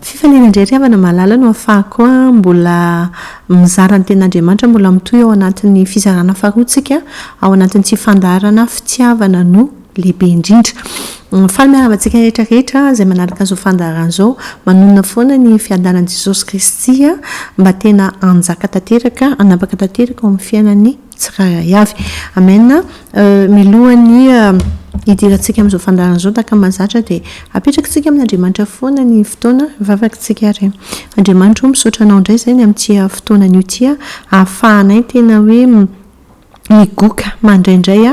Fifaliana indray ry havana malala no afahako mbola mizara ny tenin'Andriamanitra mbola mitohy ao anatin'ny fizarana faharoantsika ao anatin'ity fandaharana fitiavana no lehibe indrindra. Faly miarahaba antsika rehetra rehetra izay manaraka izao fandaharana izao. Manonona foana ny fiadanan'i Jesosy Kristy mba tena hanjaka tanteraka, hanapaka tanteraka ao amin'ny fiainan'ny. tsirairay avy. Amen. Milohan'ny hidirantsika amin'izao fandaharana izao tahaka ny mahazatra dia apetrakitsika amin'Andriamanitra foana ny fotoana vavakitsika ary Andriamanitra o misaotra anao indray izay ny amin'ity fotoana anio ity ahafahanay tena hoe migoka mandraindray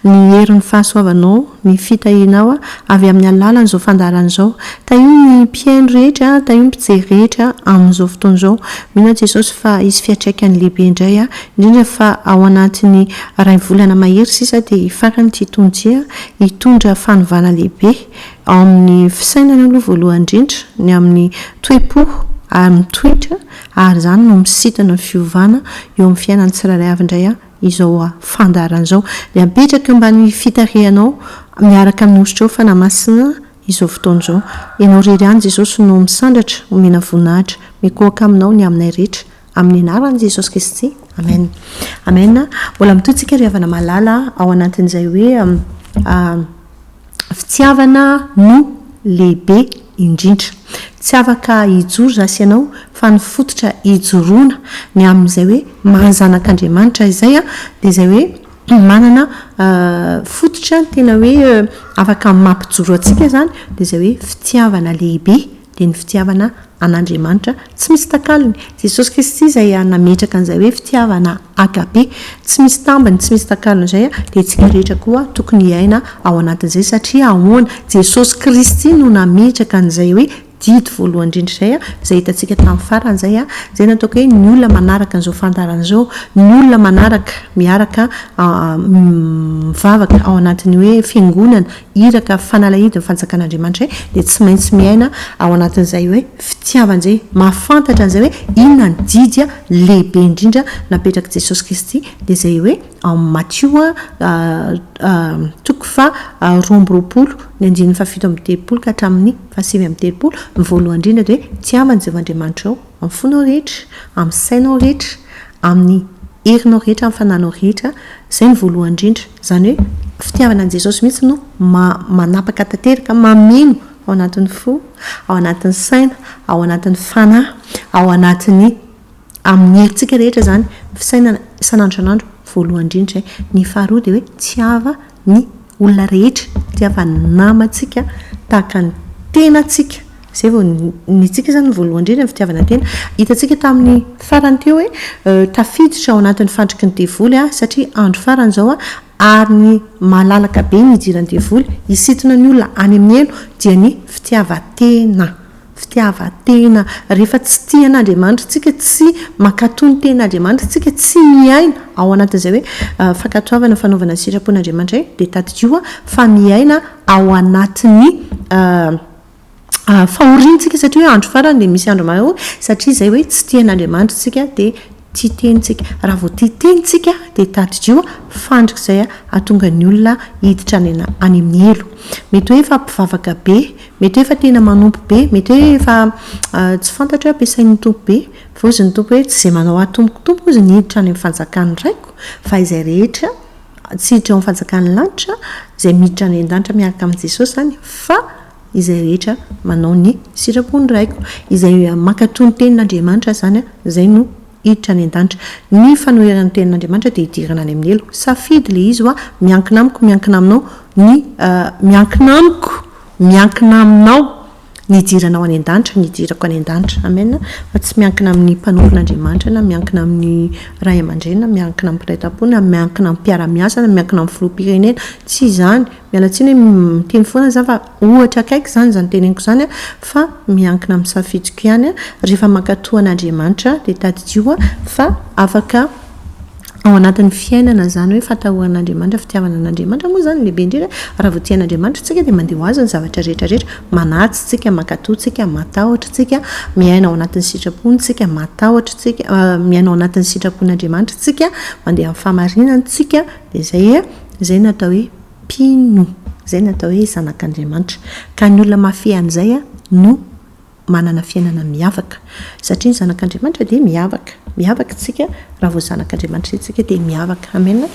ny herin'ny fahasoavanao, ny fitahianao avy amin'ny alalan'izao fandaharana izao. Tahio ny mpihaino rehetra, tahio ny mpijery rehetra amin'izao fotoana izao. Mino aho Jesosy fa hisy fiatraikany lehibe indray indrindra fa ao anatin'ny iray volana mahery sisa dia hifarana ity tonojia hitondra fanovana lehibe ao amin'ny fisainana aloha voalohany indrindra, ny amin'ny toe-po ary ny toetra ary izany no misintona ny fiovana eo amin'ny fiainan'ny tsirairay avy indray izao fandaharana izao dia apetraka eo ambanin'ny fitarihanao miaraka amin'ny Hositrao Fanahymasina izao fotoana izao. Ianao irery ihany Jesosy no misandratra, omena voninahitra. Mikohaka aminao ny aminay rehetra. Amin'ny anaran'i Jesosy Kristy, amen. Amen. Mbola mitohy tsika ry havana malala ao anatin'izay hoe fitiavana no lehibe indrindra. Tsy afaka hijoro za sy ianao fa ny fototra hijoroana ny amin'izay hoe maha zanak'Andriamanitra izay dia izay hoe manana fototra tena hoe afaka mampijoro antsika izany dia izay hoe fitiavana lehibe dia ny fitiavana an'Andriamanitra tsy misy takalony. Jesosy Kristy izay nametraka an'izay hoe fitiavana agape tsy misy tambiny, tsy misy takalony izay, dia isika rehetra koa tokony hiaina ao anatin'izay. Satria ahoana? Jesosy Kristy no nametraka an'izay hoe didy voalohany indrindra izay, izay hitantsika tamin'ny farany izay, izay nataoko hoe ny olona manaraka an'izao fandaharana izao, ny olona manaraka miaraka mivavaka ao anatin'ny hoe fiangonana Iraka fanalahidin'ny fanjakan'Andriamanitra izay dia tsy maintsy miaina ao anatin'izay hoe fitiavana izay, mahafantatra an'izay hoe inona ny didy lehibe indrindra napetrak'i Jesosy Kristy, dia izay hoe ao amin'ny Matio toko faharoa amby roapolo ny andininy fahafito amby telopolo ka hatramin'ny fahasivy amby telopolo, ny voalohany indrindra dia hoe tiavana i Jehovah Andriamanitrao. Amin'ny fonao rehetra, amin'ny sainao rehetra, amin'ny herinao rehetra, amin'ny fananao rehetra, izay no voalohany indrindra. Izany hoe fitiavana an'i Jesosy mihitsy no manapaka tanteraka, mameno ao anatin'ny fo, ao anatin'ny saina, ao anatin'ny fanahy, ao anatin'ny, amin'ny herintsika rehetra izany, ny fisainana isan'andro isan'andro, voalohany indrindra izay. Ny faharoa dia hoe tiava. ny olona rehetra tsy afa-ny namantsika tahaka ny tenantsika izay vao ny antsika izany ny voalohany indrindra ny fitiavana tena hitantsika tamin'ny farany teo hoe tafiditra ao anatin'ny fandriky ny devoly aho satria andro farany izao ary ny malalaka be ny hidiran'ny devoly hisintona ny olona any amin'ny helo dia ny fitiavan-tena fitiavan-tena, rehefa tsy tia an'Andriamanitra isika, tsy mankatò ny tenin'Andriamanitra isika, tsy miaina ao anatin'izay hoe fankatoavana, fanaovana ny sitrapon'Andriamanitra indray, dia tadidio fa miaina ao anatin'ny fahoriantsika satria hoe andro farany dia misy andro mahaory, satria izay hoe tsy tia an'Andriamanitra isika dia Tsy teny tsika. Raha vao tia teny tsika dia tadidio a, fandrika izay hahatonga ny olona hiditra any ana, any amin'ny helo. Mety hoe efa mpivavaka be, mety hoe efa tena manompo be, mety hoe efa tsy fantatro hoe ampiasain'ny Tompo be, voaozin' ny Tompo hoe tsy izay manao ahy tompoko tompoko ozy ny hiditra any amin'ny fanjakan'ny Raiko fa izay rehetra tsy hiditra ao amin'ny fanjakan'ny lanitra izay miditra any an-danitra miaraka amin'i Jesosy izany fa izay rehetra manao ny sitrapon'ny Raiko, izay mankatò ny tenin'Andriamanitra izany, izay no hiditra any an-danitra. Ny fanoherana ny tenin'Andriamanitra dia hidirana any amin'ny helo. Safidy ilay izy hoa, miankina amiko, miankina aminao ny, miankina amiko, miankina aminao ny hidiranao any an-danitra, ny hidirako any an-danitra. Amen! Fa tsy miankina amin'ny mpanompon'Andriamanitra, na miankina amin'ny ray aman-dreny, na miankina amin'ny mpiray tam-po, na miankina amin'ny mpiara-miasa, na miankina amin'ny filoham-pirenena. Tsy izany. Miala tsiny hoe miteny foana za fa ohatra akaiky izany izany teneniko izany an, fa miankina amin'ny safidiko ihany an, rehefa mankatoa an'Andriamanitra dia tadidio an, fa afaka ao anatin'ny fiainana izany hoe fatahoan'Andriamanitra, fitiavana an'Andriamanitra moa izany no lehibe indrindra an, raha vao tia an'Andriamanitra isika dia mandeha ho azy ny zavatra rehetra rehetra, manatsy tsika, mankatoa tsika, matahotra tsika, miaina ao anatin'ny sitrapony tsika, matahotra tsika, miaina ao anatin'ny sitrapon'Andriamanitra tsika, mandeha amin'ny fahamarinany tsika, Dia izay e, izay no atao hoe mpino, izay no atao hoe zanak'Andriamanitra. Ka ny olona mahafehy an'izay no manana fiainana miavaka. Satria ny zanak'Andriamanitra dia miavaka. Miavaka isika raha vao zanak'Andriamanitra isika dia miavaka. Amena.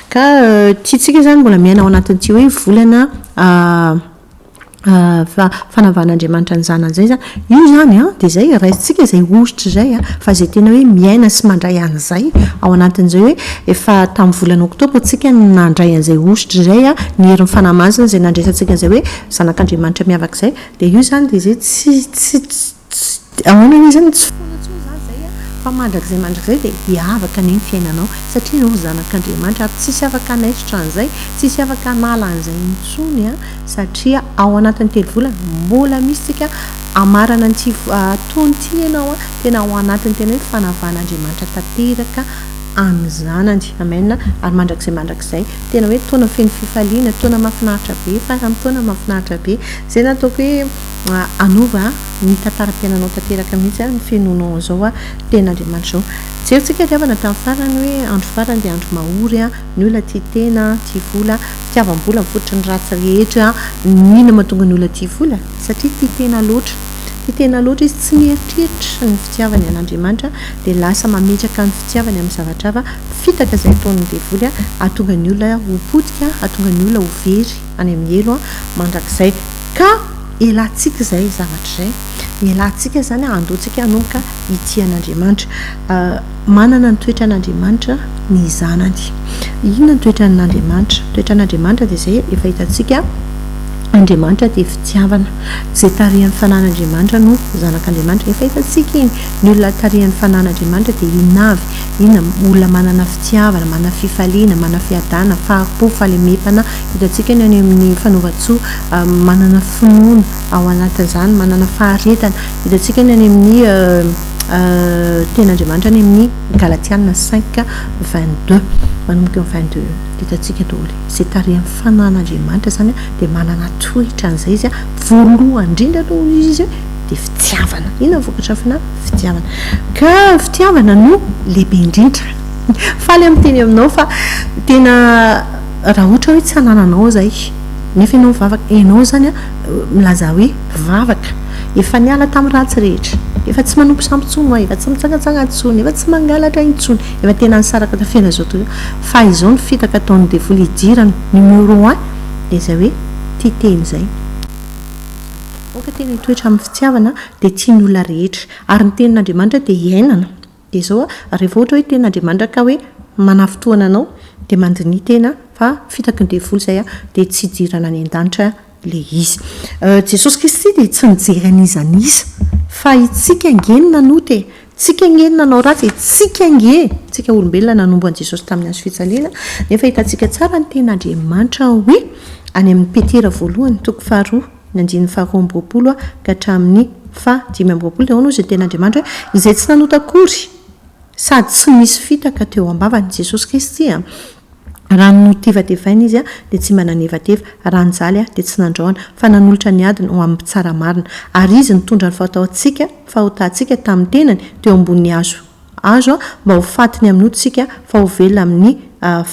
Ka tiantsika izany mbola miaina ao anatin'ity hoe volana fa fanavan'Andriamanitra ny Zanany izay izany. Io izany an, dia izay raisintsika izay hosotra izay an, fa izay tena hoe miaina sy mandray an'izay ao anatin'izay hoe efa tamin'ny volana oktobra isika no nandray an'izay hosotra izay an, ny herin'ny Fanahy Masina izay nandresantsika an'izay hoe Zanak'Andriamanitra miavaka izay, dia io izany dia izay tsy, tsy, tsy, Tsy, ahoana re izany? Tsy foana intsony izany izay an! Fa mandrakizay mandrakizay dia hiavaka anie ny fiainanao, satria ianao zanak'Andriamanitra, ary tsy hisy afaka hanaisotra an'izay, tsy hisy afaka hanala an'izay intsony an! Satria ao anatin'ny telo volana, mbola misy tsika hamarana an'ity fotoana ity ianao an! Tena ao anatin'ny tena hoe fanavahan'Andriamanitra tanteraka an'ny zanany. Amen! Ary mandrakizay mandrakizay, tena hoe taona feno fifaliana, taona mahafinaritra be, faran'ny taona mahafinaritra be. Izay no ataoko hoe. Anova a! Ny tantaram-piainanao tanteraka mihitsy a, ny fenonao an'izao a, tena Andriamanitra izao. Jery tsika hadiavana tamin'ny farany hoe andro farany dia andro mahory a, ny olona tia tena, tia vola, fitiavam-bola mifototry ny ratsy rehetra. Inona no mahatonga ny olona tia vola? Satria tia tena loatra. Tia tena loatra izy, tsy mieritreritra ny fitiavany an'Andriamanitra dia lasa mametraka ny fitiavany amin'ny zavatra hafa, fitaka izay ataon'ny devoly a, hahatonga ny olona ho potika, hahatonga ny olona ho very. any amin'ny helo an, mandrakizay ka elantsika izay zavatra izay, elantsika izany an, andoantsika hanomboka hitia an'Andriamanitra. Manana ny toetran'Andriamanitra ny zanany. Inona ny toetran'Andriamanitra? Ny toetran'Andriamanitra dia izay efa hitantsika, Andriamanitra dia fitiavana. Izay tarihan'ny fanahin'Andriamanitra no zanak'Andriamanitra. Efa hitantsika iny, ny olona tarihan'ny fanahin'Andriamanitra dia inona avy? Inona? Olona manana fitiavana, manana fifaliana, manana fiadanana, fahampo, fahalemem-panahy. Hitantsika ny any amin'ny fanaovan-tsoa, manana finoana ao anatin'izany, manana faharetana. Hitantsika ny any amin'ny Tenin'Andriamanitra any amin'ny Galatiana cinq vingt deux, manomboka eo vingt deux eo. Hitantsika daholo hoe izay tarihan'ny fananan'Andriamanitra izany dia manana toetra an'izay izy, voalohany indrindra aloha hoy izy dia fitiavana. Inona ny vokatra fanahy? Fitiavana. Ka fitiavana no lehibe indrindra. Faly aho miteny aminao fa tena Raha ohatra hoe tsy hanananao izay, nefa ianao mivavaka, ianao izany milaza hoe mpivavaka, efa niala tamin'ny ratsy rehetra, efa tsy manompo sampy intsony ho'a, efa tsy mitsangatsanga intsony, efa tsy mangalatra intsony, efa tena nisaraka tafera izao tontolo izao, fa izao ny fitaka ataon'ny devoly hidirany, numéro un, dia izay hoe tia tena izay. Aoka tena hitoetra amin'ny fitiavana dia tia ny olona rehetra. Ary ny tenin'Andriamanitra dia iainana. Dia izao, rehefa ohatra hoe tena Andriamanitra ka hoe manafitohana anao, dia mandiniha tena fa fitaky ny devoly izay, dia tsy hidirana any an-danitra ilay izy. Jesosy Kristy dia tsy nijery an'iza an'iza, fa itsika ange no nanota e! Tsika ange no nanao ratsy e! Tsika ange, tsika olombelona nanombo an'i Jesosy tamin'ny hazo fijaliana, nefa hitantsika tsara ny tenin'Andriamanitra hoe any amin'ny Petera voalohany toko faharoa, ny andininy faha roa amby roapolo ka hatramin'ny faha dimy amby roapolo, dia ahoana hoy izay tena Andriamanitra hoe izay tsy nanota akory sady tsy nisy fitaka teo am-bavany, Jesosy Kristy, raha notevatevaina izy dia tsy mba nanevateva, raha nijaly dia tsy nandrahona, fa nanolotra ny adiny ho amin'ny mpitsara marina, ary izy nitondra ny fahotahotsika, fahotantsika, tamin'ny tenany teo ambonin'ny hazo. azo mba ho faty ny amin'ny otsika fa ho velona amin'ny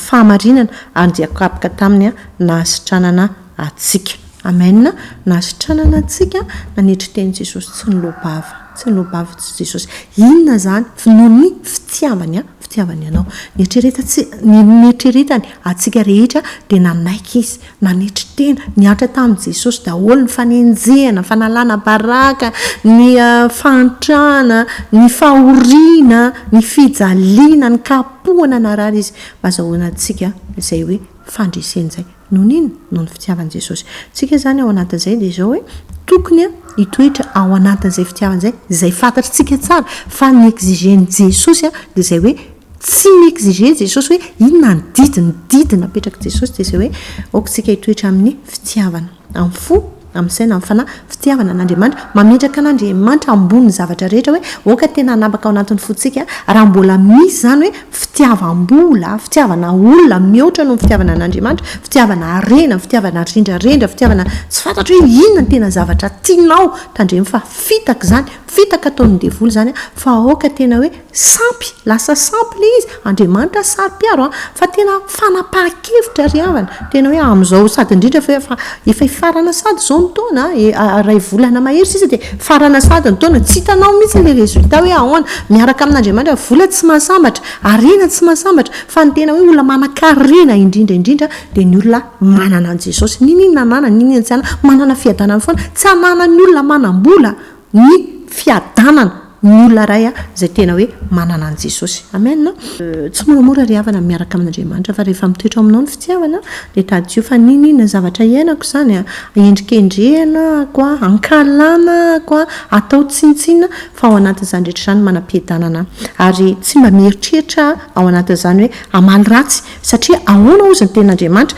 fahamarinana ary dia kapoka taminy nahasitranana antsika. Amen nahasitranana antsika nanetry teny Jesosy tsy nilobava tsy nilobava Jesosy inona zany noho ny fitiavany fitiavany anao nieritreretany atsika rehetra dia nanaiky izy Nanetry tena, nihatra tamin'i Jesosy daholo ny fanenjehana, ny fanalana baraka, ny fahantrana, ny fahoriana, ny fijaliana, ny kapohana narary Izy mba hazahoana antsika izay hoe fandresena izay. Noho ny inona? Noho ny fitiavan'i Jesosy. Tsika izany ao anatin'izay dia izao hoe, tokony hitoetra ao anatin'izay fitiavana izay, izay fantatritsika tsara fa ny exigen'i Jesosy dia izay hoe, Tsy mi-exiger Jesosy hoe inona ny didy, ny didy napetrak'i Jesosy dia izay hoe aoka isika hitoetra amin'ny fitiavana, amin'ny fo, amin'ny saina, amin'ny fanahy, fitiavana an'Andriamanitra, mametraka an'Andriamanitra ambonin'ny zavatra rehetra hoe aoka tena hanapaka ao anatin'ny fontsika raha mbola misy izany hoe fitiavam-bola, fitiavana olona mihoatra noho ny fitiavana an'Andriamanitra, fitiavana harena, fitiavana rendrarendra, fitiavana tsy fantatro hoe inona ny tena zavatra tianao, tandremo fa fitaka izany, fitaka ataon'ny devoly izany fa aoka tena hoe Sampy, lasa sampy ilay izy, Andriamanitra saro-piaro an, fa tena fanapahan-kevitra ry havana, tena hoe amin'izao sady indrindra fa efa efa hifarana sady izao ny taona an, iray volana mahery sisa dia hifarana sady ny taona, tsy hitanao mihintsy ilay résultat hoe ahoana, miaraka amin'Andriamanitra, vola tsy mahasambatra, harena tsy mahasambatra, fa ny tena hoe olona manankarena indrindra indrindra dia ny olona manana an'i Jesosy, n'inon'inona ananany, n'inon'inona tsy ananany, manana fiadanana foana, tsy ananan'ny olona manam-bola Ny fiadanana ny olona iray izay tena hoe manana an'i Jesosy. Amen. Tsy moramora ry havana ny miaraka amin'Andriamanitra, fa rehefa mitoetra ao aminao ny fitiavana, dia tadidio fa n'inona n'inona zavatra iainako izany, endrikendrehina ahako, ankahalana ahako, atao tsinontsinona, fa ao anatin'izany rehetra izany manam-piadanana aho. Ary tsy mba mieritreritra aho ao anatin'izany hoe hamaly ratsy, Satria ahoana hozy ny tenin'Andriamanitra?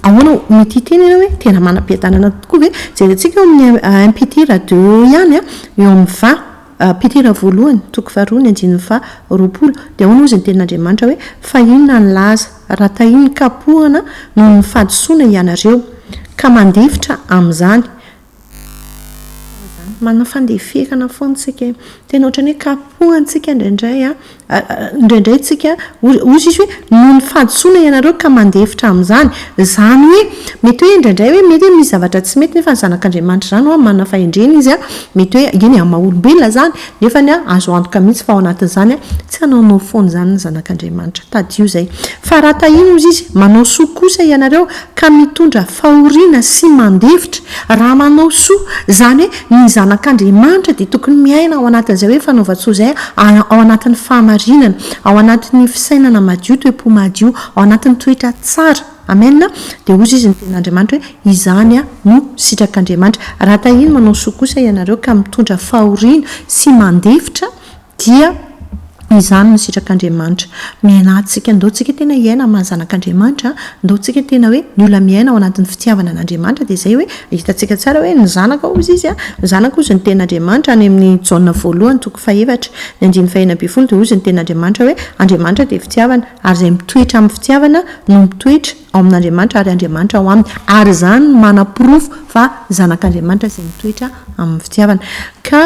Ahoana no tia tena ianao hoe tena manam-piadanana tokoa ve? Jerentsika ao amin'ny un Petira deux eo ihany an, eo amin'ny va, Petira voalohany toko faharoa ny andininy faha roapolo, dia ahoana hozy ny tenin'Andriamanitra hoe fa inona ny laza raha tahin'ny kapohana noho ny fahadisoana ianareo ka mandefitra amin'izany? Manao fandeferana foana isika eo. Tena ohatran'ny hoe kapohantsika indraindray an, indraindray isika, hoy hoy sisy hoe noho ny fahadisoana ianareo ka mandefitra amin'izany. Izany hoe mety hoe indraindray hoe mety hoe misy zavatra tsy mety nefa ny Zanak'Andriamanitra izany ho'a manana fahendrena izy an, mety hoe eny amin'ny maha-olombelona izany, Nefany azo antoka mihitsy fa ao anatin'izany tsy hanaonao foana izany ny zanak'Andriamanitra. Tadidio izay. Fa raha tahiny hozy izy, manao soa kosa ianareo ka mitondra fahoriana sy mandefitra. Raha manao soa, izany hoe ny zanak'Andriamanitra dia tokony miaina ao anatin'izay hoe fanaovan-tsoa izay ao anatin'ny fahamarinana, ao anatin'ny fisainana madio, toe-po madio, ao anatin'ny toetra tsara. Amen, dia hozy izy ny tenin'Andriamanitra hoe, izany aho no sitrak'Andriamanitra. Raha tahiny manao soa kosa ianareo ka mitondra fahoriana sy mandefitra dia izany no sitrak'Andriamanitra. Miaina antsika, ndao tsika tena hiaina amin'ny maha zanak'Andriamanitra, ndao tsika tena hoe ny olona miaina ao anatin'ny fitiavana an'Andriamanitra dia izay hoe hitantsika tsara hoe ny zanaka hozy izy, ny zanaka hozy ny tenin'Andriamanitra, any amin'ny Jaona voalohany toko fahefatra ny andininy fahenina ambin'ny folo dia hozy ny tenin'Andriamanitra hoe, Andriamanitra dia fitiavana ary izay mitoetra amin'ny fitiavana no mitoetra ao amin'Andriamanitra ary Andriamanitra ao aminy, ary izany no manaporofo fa zanak'Andriamanitra izay mitoetra amin'ny fitiavana. Ka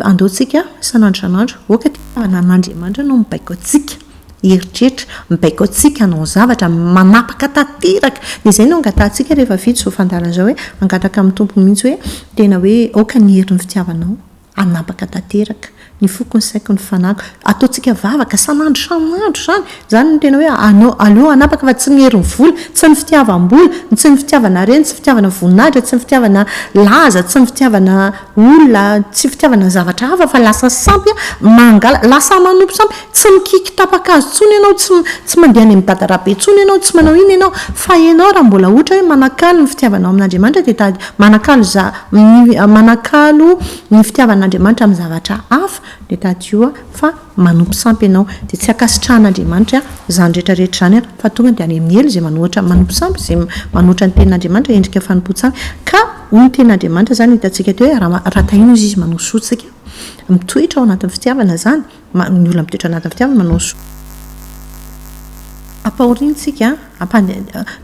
andao tsika isan'andro isan'andro, aoka ity fitiavana an'Andriamanitra no mibaiko antsika hieritreritra, mibaiko antsika hanao zavatra, manapaka tanteraka. Dia izay no angatahantsika rehefa vita izao fandaharana izao hoe, hangataka amin'ny Tompo mihitsy hoe, tena hoe aoka ny herin'ny fitiavanao. Hanapaka tanteraka ny foko, ny saiko, ny fanahiko. Ataontsika vavaka san'andro san'andro izany. Izany no tena hoe anao, aleo hanapaka fa tsy ny herin'ny vola, tsy ny fitiavam-bola, tsy ny fitiavana harena, tsy ny fitiavana voninahitra, tsy ny fitiavana laza, tsy ny fitiavana olona, tsy fitiavana zavatra hafa fa lasa sampy mangala, lasa manompo sampy. Tsy mikiky tapa-kazo intsony ianao, tsy tsy mandeha any amin'ny dada-rabe intsony ianao, tsy manao inona ianao. Fa ianao raha mbola ohatra hoe manakalo ny fitiavanao amin'Andriamanitra dia tady, manakalo iza, Ny manakalo ny fitiavan'Andriamanitra amin'ny zavatra hafa dia tadidio fa manompo sampy ianao, dia tsy ankasitrahan'Andriamanitra izany rehetra rehetra izany fa tonga dia any amin'ny helo izay manohitra manompo sampy, izay manohitra ny tenin'Andriamanitra, endrika fanompoan-tsampy, ka hoy ny tenin'Andriamanitra izany, hitantsika ety hoe raha tahin'Izy Izy manosotsika, mitoetra ao anatin'ny fitiavana izany, Maro ny olona mitoetra anatin'ny fitiavana manao soa am-pahoriantsika,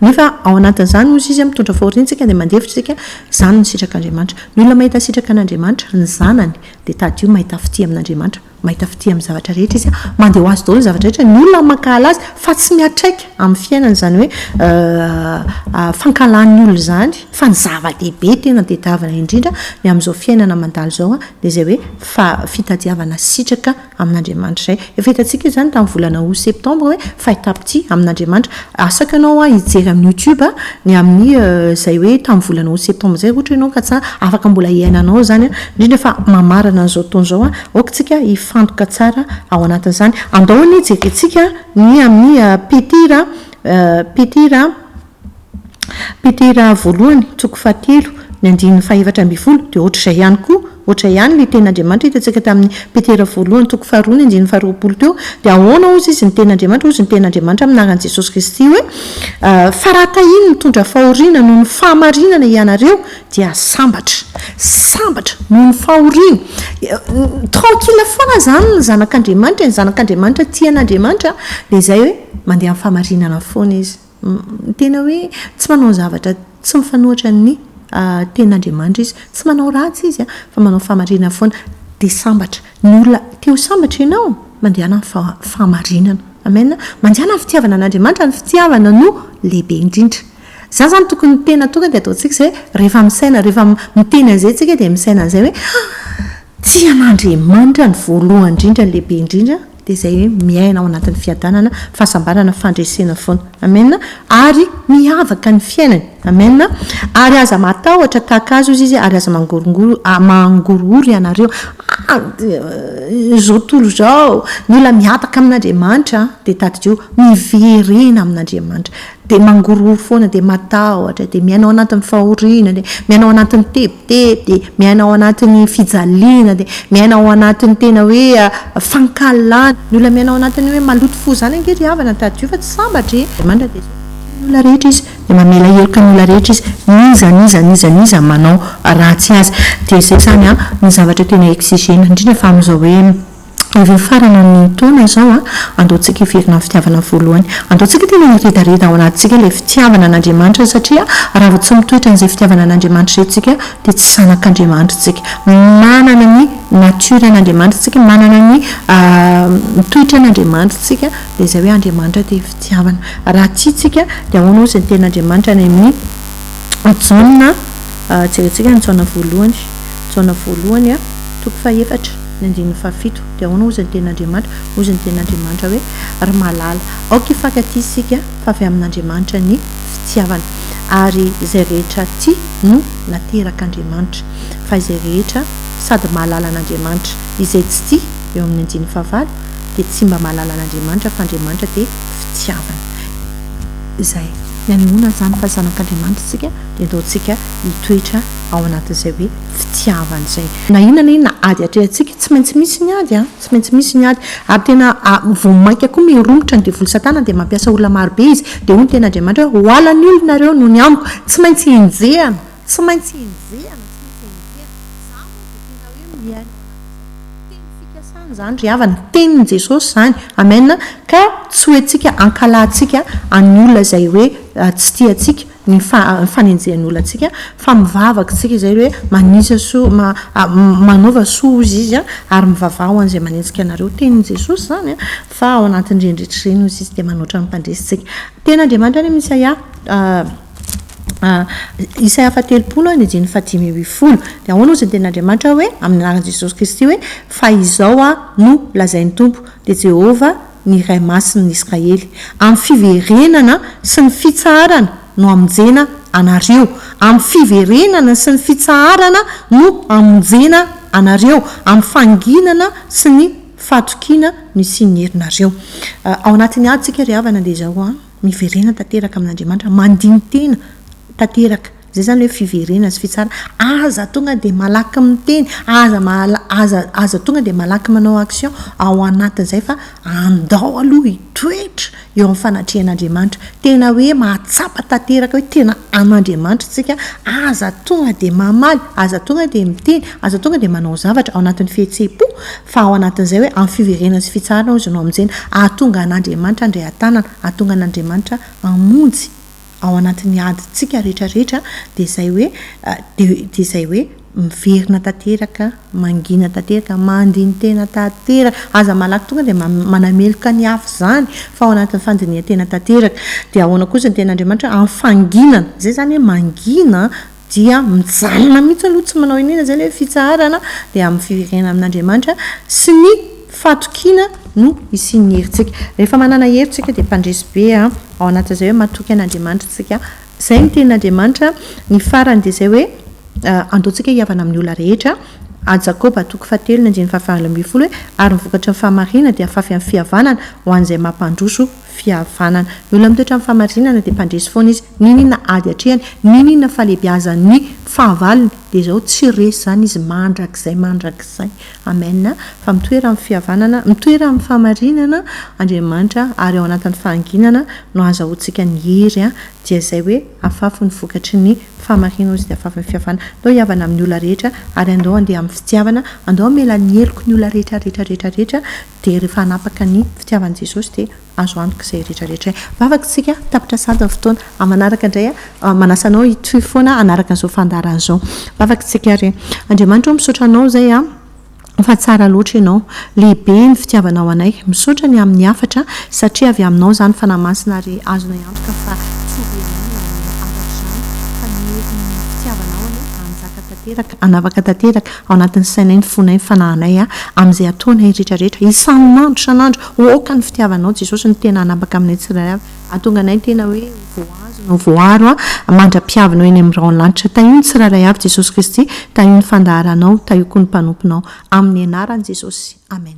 nefa ao anatin'izany hozy izy mitondra fahoriantsika dia mandefitra isika, izany ny sitrak'Andriamanitra. Ny olona mahita sitraka an'Andriamanitra ny zanany dia tadidio mahita fitia amin'Andriamanitra, mahita fitia amin'ny zavatra rehetra izy, mandeha ho azy daholo ny zavatra rehetra, ny olona mankahala azy fa tsy miantraika amin'ny fiainany izany hoe fankahalan'ny olona izany fa ny zava-dehibe tena tadiavina indrindra ny amin'izao fiainana mandalo izao dia izay hoe fa fitadiavana sitraka amin'Andriamanitra izay. Efa hitantsika izany tamin'ny volana aout septembre hoe fahitapitia amin'Andriamanitra. Asaka ianao hijery amin'ny youtube ny amin'ny izay hoe tamin'ny volana aout septembre izay raha ohatra ianao ka tsy ary, afaka mbola hiainanao izany indrindra fa mamarana an'izao fotoana izao. Aoka isika hifantoka tsara ao anatin'izany. Andao anie jerentsika ny amin'ny Petira, Petira Petera voalohany, toko fahatelo, ny andininy fahefatra ambin'ny folo, dia hoatra izay ihany koa. Hoatra ihany ilay tena Andriamanitra hitantsika tamin'ny Petera voalohany, toko faharoa, ny andininy faharoapolo teo. Dia ahoana hozy izy ny tena Andriamanitra? Hozy ny tena Andriamanitra amin'ny anaran'i Jesosy Kristy hoe, Fa raha tahin'ny mitondra fahoriana noho ny fahamarinana hianareo, dia sambatra. Sambatra noho ny fahoriana. Tranquille foana izany ny zanak'Andriamanitra, ny zanak'Andriamanitra tia an'Andriamanitra dia izay hoe mandeha amin'ny fahamarinana foana izy. Ny tena hoe tsy manao zavatra tsy mifanohitra ny tenin'Andriamanitra izy. Tsy manao ratsy izy an, fa manao fahamarinana foana. Dia sambatra. Ny olona te ho sambatra ianao, mandehana amin'ny fa- fahamarinana. Amen. Mandehana amin'ny fitiavana an'Andriamanitra. Ny fitiavana no lehibe indrindra. Izany izany tokony ny tena tonga dia ataontsika izay, rehefa misaina, rehefa miteny an'izay tsika dia misaina an'izay hoe, tia an'Andriamanitra no voalohany indrindra, lehibe indrindra. dia izay hoe miaina ao anatin'ny fiadanana, fahasambarana, fandresena foana. Amena. Ary miavaka ny fiainany. Amena. Ary aza matahotra tahaka azy hozy izy ary aza mangorongoro, mangorohoro ianareo, ah, izao tontolo izao, mila miavaka amin'Andriamanitra an, dia tadidio, miverena amin'Andriamanitra, dia mangorohoro foana, dia matahotra, dia miaina ao anatin'ny fahoriana, dia miaina ao anatin'ny te-. Dia dia miaina ao anatin'ny fijaliana, dia miaina ao anatin'ny tena hoe fankahalana. Ny olona miaina ao anatin'ny hoe maloto fo izany ange ry havana tadidio fa tsy sambatra e! Andriamanitra dia tia ny olona rehetra Izy, dia mamela heloka ny olona rehetra Izy, n'iza n'iza n'iza n'iza manao ratsy azy. Dia izay izany an, ny zavatra tena exigena indrindra fa amin'izao hoe Efa hifarana ny taona izao a! Andao tsika hiverina amin'ny fitiavana voalohany. Andao tsika tena hiredareda ao anatintsika ilay fitiavana an'Andriamanitra satria raha vao tsy mitoetra an'izay fitiavana an'Andriamanitra izay tsika dia tsy zanak'Andriamanitra tsika. Manana ny nature an'Andriamanitra tsika, manana ny toetran' Andriamanitra tsika dia izay hoe Andriamanitra dia fitiavana. Raha tia tsika dia ahoana ozy ny tenin'Andriamanitra any amin'ny Jaona, jerentsika ny Jaona voalohany, Jaona voalohany toko faha efatra. Ny andininy fahafito dia ahoana hoy izy ny tenin'Andriamanitra? Hoy izy ny tenin'Andriamanitra hoe, Ry malala, aoka hifankatia isika, fa avy amin'Andriamanitra ny fitiavana, ary izay rehetra tia no naterak'Andriamanitra, fa izay rehetra sady mahalala an'Andriamanitra, izay tsy tia, eo amin'ny andininy fahavalo, dia tsy mba mahalala an'Andriamanitra, fa Andriamanitra dia fitiavana. Izay. Ny anehoana an'izany fa zanak'Andriamanitra isika dia ataontsika hitoetra ao anatin'izay hoe. fitiavana izay. Na inona na inona ady atrehantsika, tsy maintsy misy ny ady a! Tsy maintsy misy ny ady. Ary tena vao mainka koa miromotra ny devoly Satana dia mampiasa olona maro be izy, dia hoy ny teny Andriamanitra hoe, Hoala ny olona ireo noho ny amiko. Tsy maintsy henjehana, tsy maintsy henjehana, tsy maintsy henjehana. Izaho moa dia tena hoe miaina ao anatin'izany teny fikasana izany ry havana, tenin'i Jesosy izany. Amen. Ka tsy hoentsika hankalatsika an'ny olona izay hoe tsy tia antsika. ny fanenjehan'olantsika fa mivavaka isika izay hoe manisa soa, manaova soa hozy izy an, ary mivavaha ho an'izay manenjika anareo, tenin'i Jesosy izany an, fa ao anatin'ireny rehetra ireny hozy izy dia manoatra ny mpandresy tsika. Teny Andriamanitra any amin'i Isaia, Isaia faha telopolo an, ny andininy faha dimy ambin'ny folo, dia ahoana hozy ny teny Andriamanitra hoe amin'ny anaran'i Jesosy Kristy hoe, fa izao aho no lazain'ny Tompo, dia Jehovah ny Iray Masin'ny Israely. Amin'ny fiverenana sy ny fitsaharana no hamonjena anareo. Amin'ny fiverenana sy ny fitsaharana no hamonjena anareo, amin'ny fanginana sy ny fatokiana no hisian'ny herinareo. Ao anatin'ny adintsika ry havana dia izao, miverena tanteraka amin'Andriamanitra, mandini-tena tanteraka. Izay izany hoe fiverena sy fitsarana. Aza tonga dia malaky miteny, aza mala- aza aza tonga dia malaky manao action ao anatin'izay fa andao aloha hitoetra eo amin'ny fanatrehan'Andriamanitra. Tena hoe mahatsapa tanteraka hoe tena an'Andriamanitra isika. Aza tonga dia mamaly, aza tonga dia miteny, aza tonga dia manao zavatra ao anatin'ny fihetseham-po fa ao anatin'izay hoe amin'ny fiverena sy fitsarana hozy no hamonjena. Hahatonga an'Andriamanitra handray an-tanana, hahatonga an'Andriamanitra hamonjy. ao anatin'ny adintsika rehetra rehetra dia izay hoe dia dia izay hoe miverina tanteraka, mangina tanteraka, mandini-tena tanteraka, aza malaky tonga dia manameloka ny hafa izany fa ao anatin'ny fandinihan-tena tanteraka, dia ahoana kosa ny tenin'Andriamanitra? Amin'ny fanginana, izay izany hoe mangina an! dia mijanona mihitsy aloha tsy manao iniana izay ilay fitsaharana dia amin'ny fiverenana amin'Andriamanitra sy ny fatokiana no hisian'ny herintsika. Rehefa manana hery tsika dia mpandresy be ao anatin'izay hoe matoky an'Andriamanitra tsika. Izay ny tenin'Andriamanitra, ny farany dia izay hoe andao tsika hihavana amin'ny olona rehetra, A Jakoba toko fahatelo ny andininy fahavalo ambin'ny folo hoe ary ny vokatry ny fahamarinana dia afafy amin'ny fihavanana ho an'izay mampandroso fihavanana. Ny olona mitoetra amin'ny fahamarinana dia mpandresy foana izy, n'inon'inona ady atrehany, n'inon'inona fahalehibiazan'ny fahavalony dia izao tsy resy izany izy mandrakizay mandrakizay. Amen a! Fa mitoera amin'ny fihavanana, mitoera amin'ny fahamarinana Andriamanitra ary ao anatin'ny fahanginana no ahazahoantsika ny hery dia izay hoe afafy ny vokatry ny fahamarinana hoy izy dia afafy ny fihavanana. Andao hihavana amin'ny olona rehetra ary andao handeha amin'ny fitiavana, andao hamela ny heloko ny olona rehetra rehetra rehetra rehetra Dia rehefa hanapaka ny fitiavan'i Jesosy dia azo antoka izay rehetra rehetra. Vavaka isika, tapitra sahady ny fotoana. Amin'ny manaraka indray aho manasa anao hitohy foana hanaraka an'izao fandaharana izao. Vavaka isika ary. Andriamanitra o, misaotra anao izay fa tsara loatra ianao. Lehibe ny fitiavanao anay. Misaotra ny amin'ny hafatra satria avy aminao izany Fanahy Masina ary azonay antoka fa tsy dia inona no hafatra izany fa ny herin'ny fitiavanao anie hanjaka tanteraka, hanavaka tanteraka, Ao anatin'ny sainay, ny fonay, ny fanahinay, amin'izay ataonay rehetrarehetra, isan'andro isan'andro, ho aoka ny fitiavanao Jesosy no tena hanambaka aminay tsirairay avy. Hahatonga anay tena hoe ho voahazo na ho voaaro mandra-pihavinao eny amin'ny rahon'ny lanitra. Tahio ny tsirairay avy Jesosy Kristy, tahio ny fandaharanao, tahio koa ny mpanomponao. Amin'ny anaran'i Jesosy, Amen.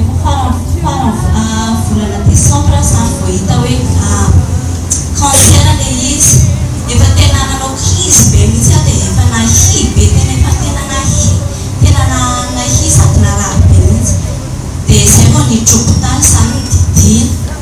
Efa faran'ny faran'ny volana desambra zany vao hita hoe ah cancer ilay izy. Efa tena nanao crise be mihitsy aho dia efa nahia be tena efa tena nahia tena nahia sady narary be mihitsy dia izay vao nidrobo tany izany ny didiana.